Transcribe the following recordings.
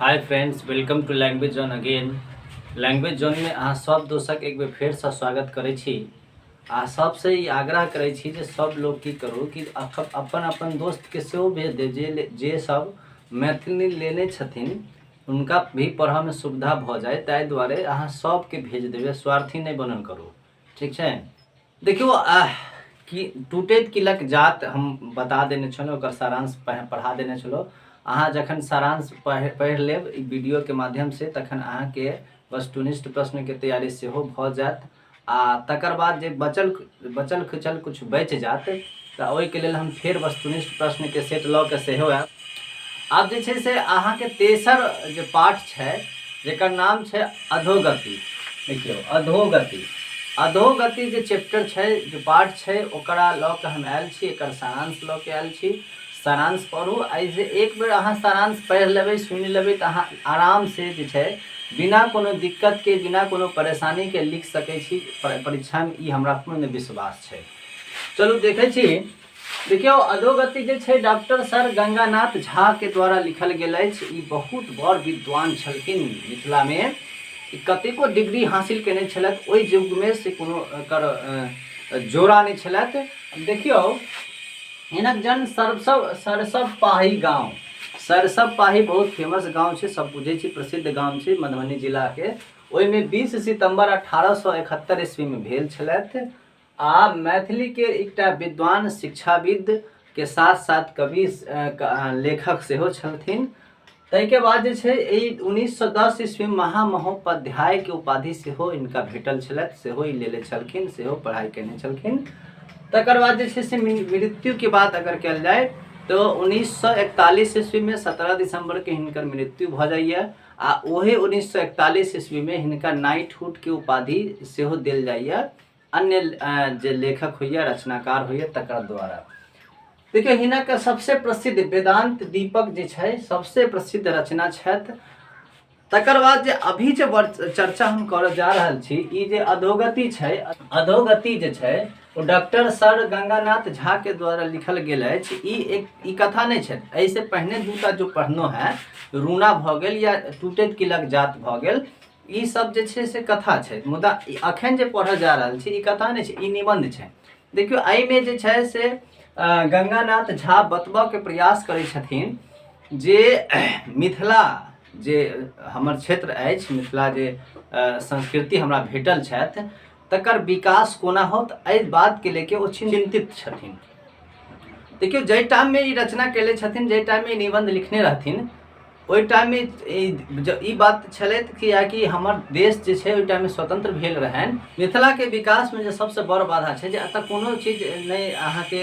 hi friends welcome to language zone again language zone में अहाँ सब दोस्तक एक बेर फेर से स्वागत करै छी आ सबसे ई आग्रह करै छी जे सब लोग की करू कि अख- अपन अपन दोस्त के सेहो भेज दे जे ले- जे सब मैथिली लेने छथिन हुनका भी पढ़ऽ में सुविधा भऽ जाय ताहि दुआरे अहाँ सबके भेज देबै स्वार्थी नहि बनल करू ठीक छै देखियौ आह कि टूटैत किलक जात हम बता देने छलहुँ ओकर सारांश पढ़ा देने छलहुँ अहाँ जखन सारांश पढ़ि पढ़ि लेब ई वीडियोके माध्यमसँ तखन अहाँके वस्तुनिष्ठ प्रश्नके तैयारी सेहो भऽ जायत आ तकर बाद जे बचल बचल खुचल किछु बचि जायत तऽ ओहिके लेल हम फेर वस्तुनिष्ठ प्रश्नके सेट लऽ कऽ सेहो आयब आब जे छै से अहाँके तेसर जे पाठ छै जेकर नाम छै अधोगति देखियौ अधोगति अधोगति जे चैप्टर छै जे पाठ छै ओकरा लऽ कऽ हम आयल छी एकर सारांश लऽ कऽ आयल छी सारांश पढ़ू एहिसँ एक बेर अहाँ सारांश पढ़ि लेबै सुनि लेबै तऽ अहाँ आरामसँ जे छै बिना कोनो दिक्कतके बिना कोनो परेशानीके लिख सकै छी परीक्षामे ई हमरा पूर्ण विश्वास छै चलू देखै छी देखियौ अधोगति जे छै डॉक्टर सर गंगानाथ झा के द्वारा लिखल गेल अछि ई बहुत बड़ विद्वान छलखिन मिथिला में ई कतेको डिग्री हासिल केने छलथि ओहि युग में से कोनो एकर अ, जोड़ा नहि छलथि देखियौ हिनक जन्म सरसव सरसव पाही गांव सरसव पाही बहुत फेमस गांव छै सब बुझै छी प्रसिद्ध गांव छै मधुबनी जिला के ओहिमे 20 सितंबर 1871 ईस्वी में भेल छलथि आ मैथिली के एकटा विद्वान शिक्षाविद के साथ साथ कवि लेखक सेहो छलथिन ताहिके बाद जे छै एहि उन्नीस सए दस ईस्वी महामहोपाध्यायके उपाधि सेहो इनका भेटल छलथि सेहो ई लेले छलखिन सेहो पढ़ाइ केने छलखिन तकर बाद जे छै से मृत्युके बात अगर कयल जाय तो उन्नीस सौ इकतालीस ईस्वी में सत्रह दिसंबर के हिनकर मृत्यु भ जाइए आ ओहे उन्नीस सौ इकतालीस ईस्वी में हिनका नाइटहुड के उपाधि सेहो दिल जाइए अन्य जे लेखक होइए रचनाकार होइए तकर द्वारा देखियौ हिनक सबसे प्रसिद्ध वेदांत दीपक जे छै सबसे प्रसिद्ध रचना छथि तकर बाद जे अभी जे चर्चा हम करऽ जा रहल छी ई जे अधोगति छै अधोगति जे छै ओ डॉक्टर सर गंगानाथ झा के द्वारा लिखल गेल अछि ई एक ई कथा नहि छै एहिसँ पहिने दूटा जो पढ़नो है रूना भऽ गेल या टूटैत किलक जात भऽ गेल ई सब जे छै से कथा छै मुदा अखन जे पढ़ऽ जा रहल छी ई कथा नहि छै ई निबंध छै देखियौ एहिमे जे छै से गंगानाथ झा बतबऽके प्रयास करै छथिन जे मिथिला जे हमर क्षेत्र अछि मिथिला जे संस्कृति हमरा भेटल छथि तकर विकास कोना होत एहि बातके लेके ओ चिन्तित छथिन देखियौ जाहि टाइममे ई रचना केले छथिन जाहि टाइममे ई निबन्ध लिखने रहथिन ओहि टाइममे ई बात छलथि कि आकि हमर देश जे छै ओहि टाइममे स्वतन्त्र भेल रहनि मिथिलाके विकासमे जे सभसँ बड़ बाधा छै जे एतय कोनो चीज नहि अहाँके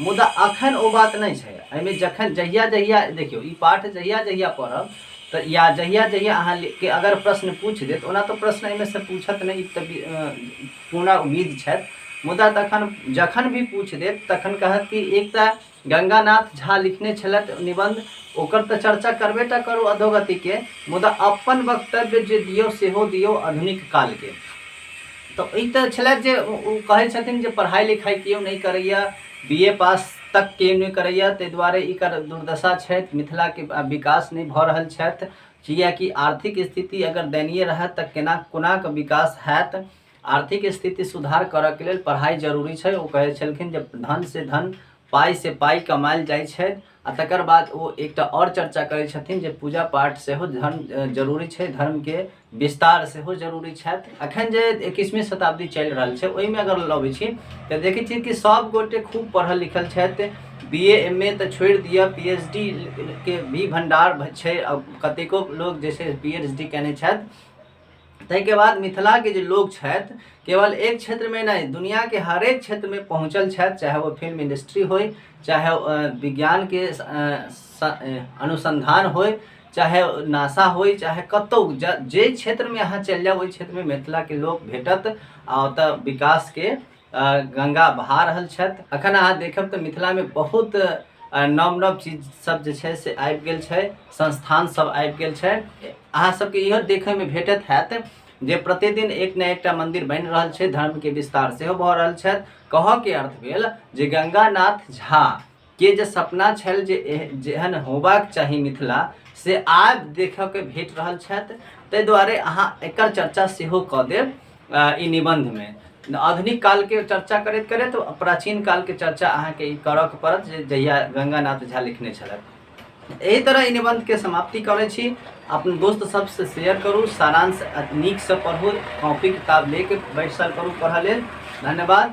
मुदा अखन ओ बात नहि छै एहिमे जखन जहिया जहिया देखियौ ई पाठ जहिया जहिया पढ़ब तऽ या जहिया जहिया अहाँके अगर प्रश्न पूछि देत ओना तऽ प्रश्न एहिमे से पूछत नहि तऽ पूरा उम्मीद छथि मुदा तखन जखन भी पूछि देत तखन कहत कि एक तऽ गंगानाथ झा लिखने छलथि निबंध ओकर तऽ चर्चा करबे टा करू अधोगतिके मुदा अपन वक्तव्य जे दियौ सेहो दियौ आधुनिक कालके तऽ ई तऽ छलै जे ओ कहै छथिन जे पढ़ाइ लिखाइ केओ नहि करैए बी ए पास तक केओ नहि करैए ताहि दुआरे ई कर दुर्दशा छथि मिथिलाके विकास नहि भऽ रहल छथि किएकि आर्थिक स्थिति अगर दयनीय रहत तऽ केना कोनाके विकास हैत आर्थिक स्थिति सुधार करऽके लेल पढ़ाइ जरूरी छै ओ कहै छलखिन जे धन से धन पाइ से पाइ कमायल जाइ छै आ तकर बाद ओ एकटा आओर चर्चा करै छथिन जे पूजा पाठ सेहो धर्म अ, जरूरी छै धर्मके विस्तार सेहो जरूरी छथि अखन जे एकैसवीं शताब्दी चलि रहल छै ओहिमे अगर लबै छी तऽ देखै छियै कि सभ गोटे खूब पढ़ल लिखल छथि बी ए एम ए तऽ छोड़ि दिअ पी एच डी के भी भंडार भ- छै आ कतेको लोग जे छै पी एच डी केने छथि ताहिके बाद मिथिलाके जे लोक छथि केवल एक क्षेत्रमे नहि दुनिआके हरेक क्षेत्रमे पहुँचल छथि चाहे ओ फिल्म इंडस्ट्री होइ चाहे विज्ञानके अनुसन्धान होइ चाहे नासा होइ चाहे कतहु जे क्षेत्रमे अहाँ चलि जाउ ओहि क्षेत्रमे मिथिलाके लोक भेटत आ ओतय विकासके गंगा भा रहल छथि अखन अहाँ देखब तऽ मिथिलामे बहुत नव नव चीज सब जे छै से आबि गेल छै संस्थान सब आबि गेल छै अहाँ सबके इहो देखैमे भेटत हैत जे प्रतिदिन एक ने एकटा मंदिर बनि रहल छै धर्मके विस्तार सेहो भऽ रहल छथि कहऽके अर्थ भेल जे गंगानाथ झा के जे सपना छल जे एह- जेहन होबाक चाही मिथिला से आब देखयके भेट रहल छथि ताहि दुआरे अहाँ एकर चर्चा सेहो कऽ देब अ, ई निबन्धमे आधुनिक कालके चर्चा करैत करैत प्राचीन कालके चर्चा अहाँके ई करयके पड़त जे जहिया गंगानाथ झा लिखने छलथि एहि तरह ई निबन्धके समाप्ति करै छी अपन दोस्त सबसँ शेयर करू सारांश नीकसँ पढ़ू कॉपी किताब लेके बैसल करू पढ़ऽ लेल धन्यवाद